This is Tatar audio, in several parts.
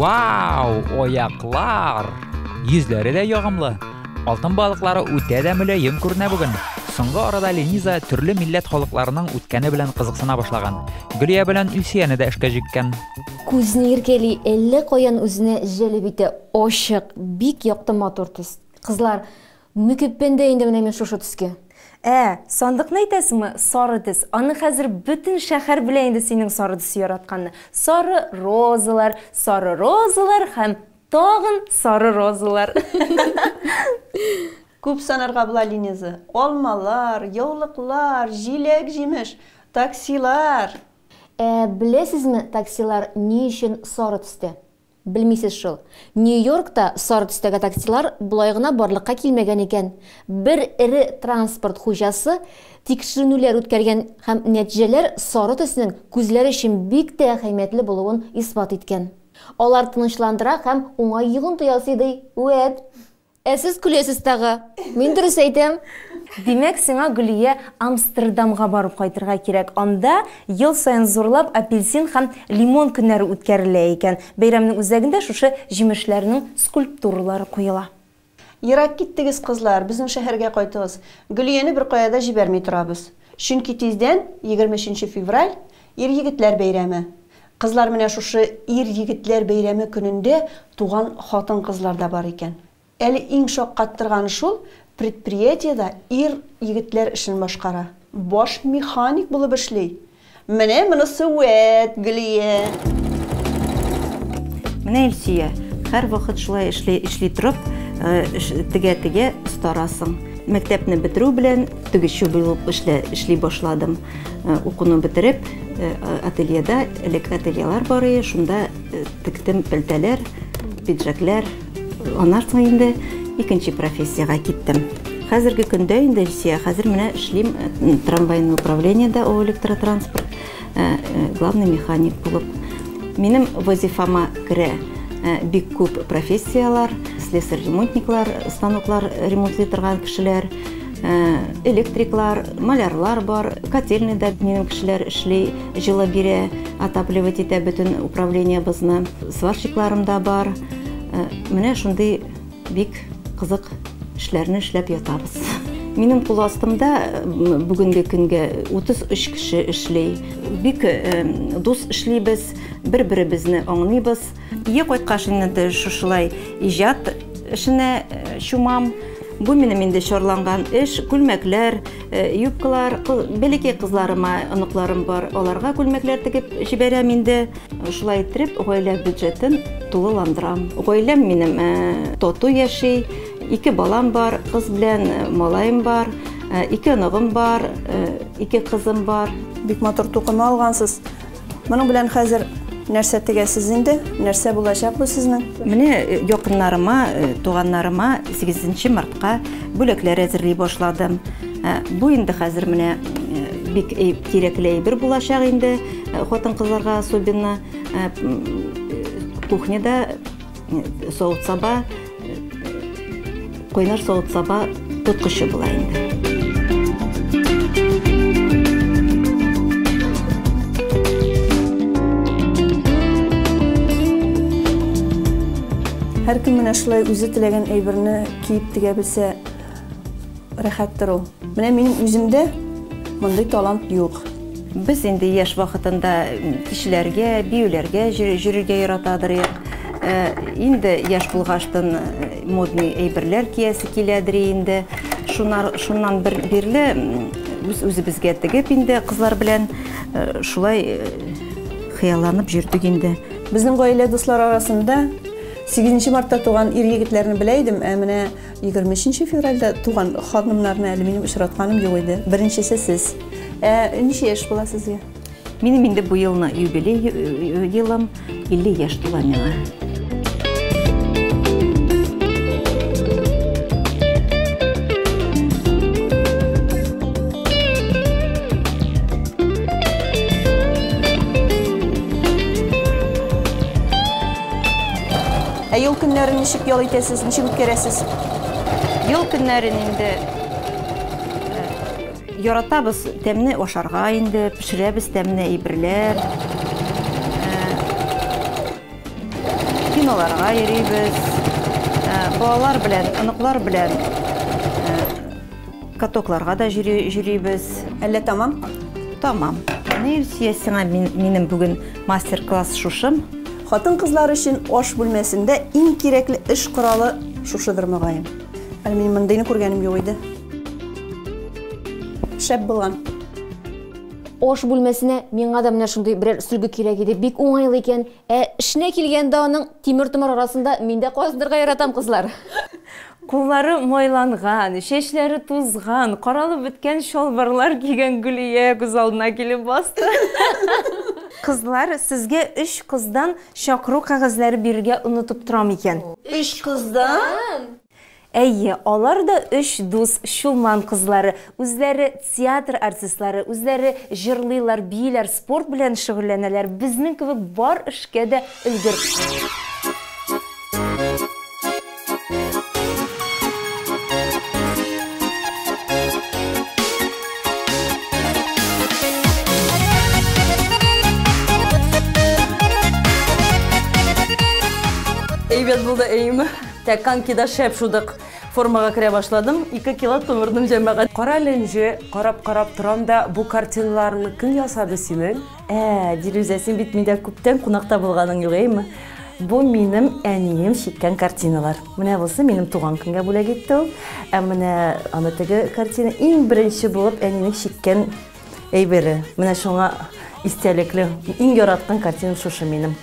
Вау, аяклар! Йөзләре дә ягымлы. Алтын балыклары үтә дә мөлаем күренә бүген. Соңгы арада Лениза төрле милләт халыкларының үткәне белән кызыксына башлаган. Гөлия белән Илсияне дә эшкә җиккән. Күзне иркәли, әллә каян үзенә җәлеп итә. Ачык, бик якты матур төс. Кызлар, Ник өппәндә инде менә мин шушы төскә? Ә, сандыкны әйтәсеңме? Сары төс. Аны хәзер бөтен шәһәр белә инде синең сары төсе яратканны. Сары розалар, сары розалар һәм тагын сары розалар. Күп санарга була, Линиза. Алмалар, яулыклар, җиләк-җимеш, таксилар. Ә беләсезме, таксилар ни өчен сары төстә? Белмисез шул. Нью-Йоркта сары төстәге таксилар болай гына барлыкка килмәгән икән. Бер эре транспорт хуҗасы тикшеренүләр үткәргән һәм нәтиҗәләр сары төснең күзләр өчен бик тә әһәмиятле булуын исбат иткән. Алар тынычландыра һәм уңай йогынты ясый, ди Уэд. Ә сез көләсез тагы. Мин дөрес әйтәм. Димәк, сиңа, Гөлия, Амстердамга барып кайтырга кирәк. Анда ел саен зурлап апельсин һәм лимон көннәре үткәрелә икән. Бәйрәмнең үзәгендә шушы җимешләрнең скульптуралары куела. Ерак киттегез, кызлар, безнең шәһәргә кайтыгыз. Гөлияне беркая да җибәрми торабыз. Чөнки тиздән, егерме өченче февраль, ир-егетләр бәйрәме. Кызлар менә шушы ир-егетләр бәйрәме көнендә туган хатын-кызлар да бар икән. Әле иң шаккаттырганы шул, предприятиедә ир-егетләр эшен башкара. Баш механик булып эшли. Менә монысы вәт, Гөлия. Менә Илсөя, һәр вакыт шулай эшли, эшли торып, тегә-тегә старасың. Мәктәпне бетерү белән тегүче булып эшлә, эшли башладым. Укуны бетереп, ательеда, элек ательелар бар иде, шунда тектем пәлтәләр, пиджаклар, Аннан соң инде икенче профессиягә киттем. Хәзерге көндә инде Илсия, хәзер менә эшлим э, трамвайный управлениедә ООО электротранспорт, э, э, главный механик булып. Минем вазифама керә бик күп профессияләр, слесарь-ремонтниклар, станоклар ремонтлый торган кешеләр, Э, электриклар, малярлар бар, котельныйда минем кешеләр эшли, җылы бирә, отапливать итә бөтен управлениебызны. Сварщикларым да бар. Э, менә шундый бик кызык эшләрне эшләп ятабыз. Минем кул астымда э, бүгенге көнгә 33 кеше эшли. Бик э, дус эшлибез, бер-беребезне аңлыйбыз. Өйгә кайткач инде дә шушылай иҗат эшенә чумам. Бу минем инде чарланган эш, күлмәкләр, юбкалар, бәләкәй кызларыма, оныкларым бар, аларга күлмәкләр тегеп җибәрәм инде. Шулай иттереп, гаилә бюджетын тулыландырам. Гаиләм минем тату яши, ике балам бар, кыз белән малаем бар, ике оныгым бар, ике кызым бар. Бик матур тукыма алгансыз. Моның белән хәзер нәрсә тегәсез инде? Нәрсә булачак бу сезнең? Менә э, якыннарыма, э, туганнарыма 8 мартка бүләкләр әзерли башладым. Э, бу инде хәзер менә бик кирәкле әйбер булачак инде хатын-кызларга особенно кухняда Савыт саба, куйнар савыт саба тоткычы була инде. Һәркем менә шулай үзе теләгән әйберне киеп тегә белсә, Рәхәттер ул. Менә минем үземдә мондый талант юк. Без инде яшь вакытында кичләргә, биюләргә җөрергә яратадыр ек. Э, инде яшь булгаштын модный әйберләр киясе киләдер инде. Шунар, шуннан бер бирле үз үзебезгә тегеп инде кызлар белән э, шулай э, хыялланып җөрдек инде. Безнең гаилә дуслар арасында 8 мартта туган ир егетләрне белә идем, ә менә Егерме өченче февральдә туган ханымнарны әле минем очратканым юк иде. Беренчесе сез. Ә ничә яшь була сезгә? Минем инде бу елны юбилей э, елым 50 яшь тула миңа. Ә ел көннәрен ничек ял итәсез, ничек үткәрәсез? Ел көннәрен инде э, яратабыз тәмне ашарга инде, пешерәбез тәмне әйберләр. Э, киноларга йөрибез. Э, балалар белән, оныклар белән Катокларга да җөрибез. Әллә тамам? Тамам. Ни Илсөя сиңа минем бүген мастер-класс шушым. Хатын-кызлар өчен аш бүлмәсендә иң кирәкле эш коралы шушыдыр мөгаен. Әле минем мондыйны күргәнем юк иде. Шәп булган. Аш бүлмәсенә миңа да менә шундый берәр сөлге кирәк иде. Бик уңайлы икән. Ә эшенә килгәндә аның тимер-томар арасында мин дә казынырга яратам, кызлар. Куллары майланган, чәчләре тузган, каралып беткән чалбарлар кигән Гөлия күз алдына килеп басты. Кызлар, сезгә өч кыздан чакыру кәгазьләре бирергә онытып торам икән. Өч кыздан? Әйе, алар да өч дус Чулман кызлары. Үзләре театр артистлары, үзләре җырлыйлар, бииләр, спорт белән шөгыльләнәләр, безнең кебек бар эшкә дә өлгер. Әйбәт булды, әйеме? Тә канки да шәп шудык. Формага керә башладым, ике кило томырдым җәмәгать. Кара әле энҗе, карап карап торам да, бу картиналарны кем ясады синең? Ә, Дилүзә, син бит миндә күптән кунакта булганың юк, әйеме? Бу минем әнием чиккән картиналар. Менә бусы минем туган көнгә бүләк итте ул. Ә менә аны теге картина иң беренче булып әнинең чиккән әйбере. Менә шуңа истәлекле. Иң яраткан картинам шушы минем.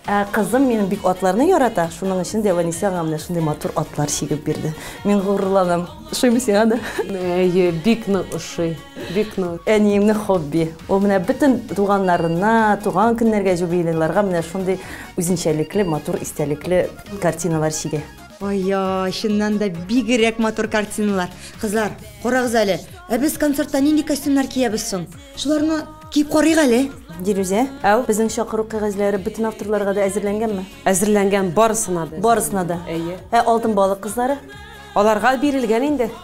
Ә кызым минем бик атларны ярата, шуның өчен дә Ваниса аңа менә шундый матур атлар чигеп бирде. Мин горурланам. Ошыймы сиңа да? Әйе, бик нык ошый. Бик нык. Әниемнең хобби. Ул менә бөтен туганнарына, туган көннәргә, юбилейларга менә шундый үзенчәлекле, матур истәлекле картиналар чигә. Ая, чыннан да бигерәк матур картиналар. Кызлар, карагыз әле, ә без концертта нинди костюмнар киябез соң? Шуларны киеп карыйк әле. Дилүзә, әу, безнең чакыру кәгазьләре бөтен авторларга да әзерләнгәнме? Әзерләнгән барысына да. Барысына да. Әйе. Ә алтын балык кызлары? Аларга бирелгән инде.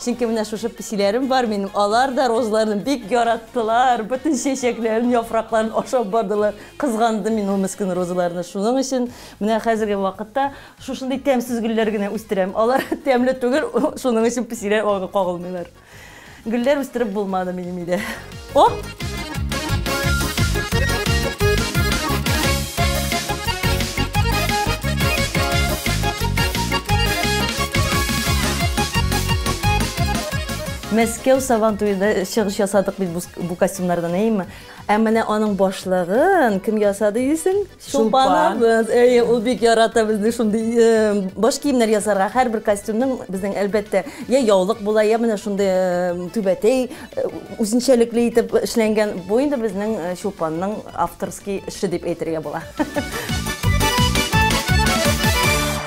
Чөнки менә шушы песиләрем бар минем, алар да розаларны бик яраттылар, бөтен чәчәкләрен, яфракларын ашап бардылар. Кызгандым мин ул мескен розаларны. Шуның өчен менә хәзерге вакытта шушындый тәмсез гөлләр генә үстерәм. Алар тәмле түгел, шуның өчен песиләр аңа кагылмыйлар. Гөлләр үстереп булмады минем өйдә. О! Мәскәү Сабантуенда чыгыш ясадык бит бу костюмнардан, әйеме? Ә менә аның башлыгын кем ясады дисең? Чулпан. Әйе, ул бик ярата безне шундый баш киемнәр ясарга. Һәрбер костюмның безнең әлбәттә я яулык була, я менә шундый түбәтәй үзенчәлекле итеп эшләнгән. Бу инде безнең Чулпанның авторский эше дип әйтергә була.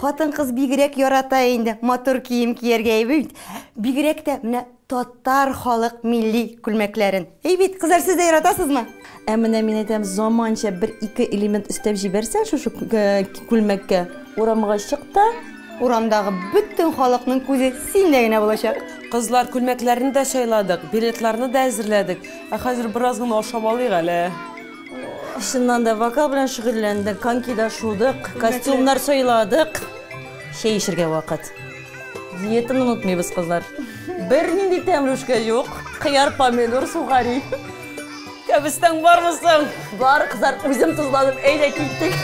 Хатын-кыз бигрәк ярата инде матур кием кияргә әйе бит? Бигрәк тә менә татар халык милли күлмәкләрен. Әйе бит, кызлар, сез дә яратасызмы? Ә менә мин әйтәм, заманча бер-ике элемент өстәп җибәрсәң шушы күлмәккә, урамга чык та, урамдагы бөтен халыкның күзе синдә генә булачак. Кызлар, күлмәкләрне дә сайладык, билетларны да әзерләдек. Ә хәзер бераз гына ашап алыйк әле. Чыннан да, вокал белән шөгыльләндек, конькида шудык, костюмнар сайладык. Чәй эчергә вакыт. Диетаны онытмыйбыз, кызлар. Бернинди тәмле үшкә юк. Кыяр, помидор, сухари. Кәбестәң бармы соң? Бар, кызлар, үзем тозладым, әйдә киттек.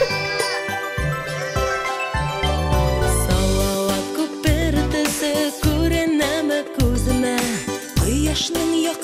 Салават күпер төсе күренәме күземә? Кояшның як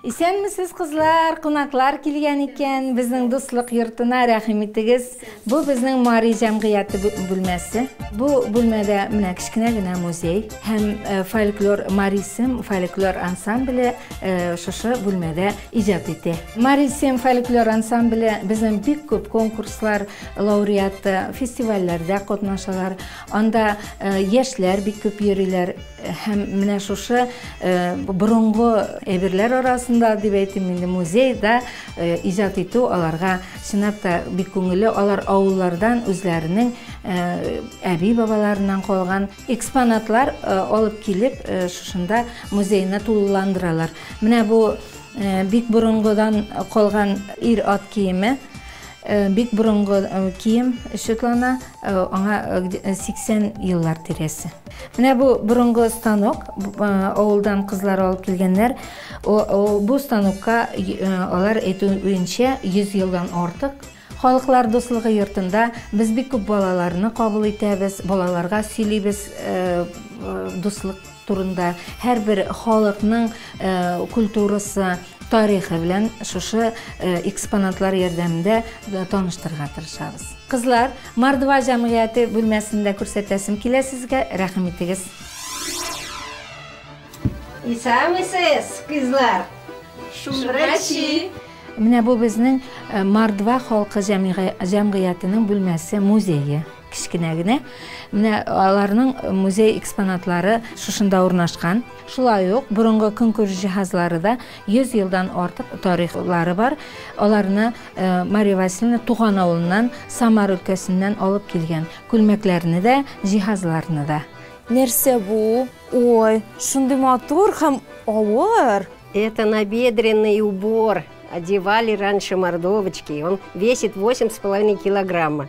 Исәнмесез кызлар, кунаклар килгән икән, безнең дуслык йортына рәхим итегез. Бу безнең Мари җәмгыяте бүлмәсе. Бу бүлмәдә менә кечкенә генә музей һәм фольклор Мари Сем фольклор ансамбле шушы бүлмәдә иҗат итә. Мари Сем фольклор ансамбле безнең бик күп конкурслар лауреаты, фестивальләрдә катнашалар. Анда яшьләр бик күп йөриләр. Һәм менә шушы борынгы әйберләр арасында, дип әйтим инде, музейда иҗат итү аларга чынлап та бик күңелле. Алар авыллардан үзләренең әби-бабаларыннан калган экспонатлар алып килеп, шушында музейны тулыландыралар. Менә бу бик борынгыдан калган ир-ат киеме. Бик борынгы кием Светлана, аңа 80 еллар тирәсе. Менә бу борынгы станок, авылдан кызлар алып килгәннәр. Бу станокка алар әйтүенчә 100 елдан артык. Халыклар дуслыгы йортында без бик күп балаларны кабул итәбез, балаларга сөйлибез дуслык. турында, һәрбер халыкның культурасы, тарихы белән шушы экспонатлар ярдәмендә таныштырырга тырышабыз. Кызлар, Мордва җәмгыяте бүлмәсен дә күрсәтәсем килә сезгә, рәхим итегез. Исәнмесез, кызлар! Шумрачи! Менә бу безнең Мордва халкы җәмгыятенең бүлмәсе, музее. Кечкенә генә менә аларның музей экспонатлары шушында урнашкан. Шулай ук борынгы көнкүреш җиһазлары да 100 елдан артык тарихлары бар. Аларны э, Мария Васильевна туган авылыннан Самар өлкәсеннән алып килгән. Күлмәкләрне дә, җиһазларны да. Нәрсә бу? Ой, шундый матур һәм авыр. Это набедренный убор. Одевали раньше мордовочки. Он весит 8,5 килограмма.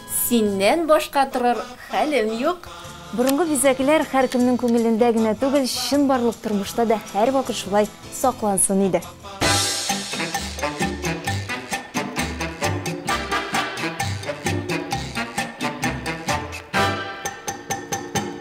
Синнән башка торыр хәлем юк. Борынгы бизәкләр һәркемнең күңелендә генә түгел, чынбарлык тормышта да һәрвакыт шулай саклансын иде.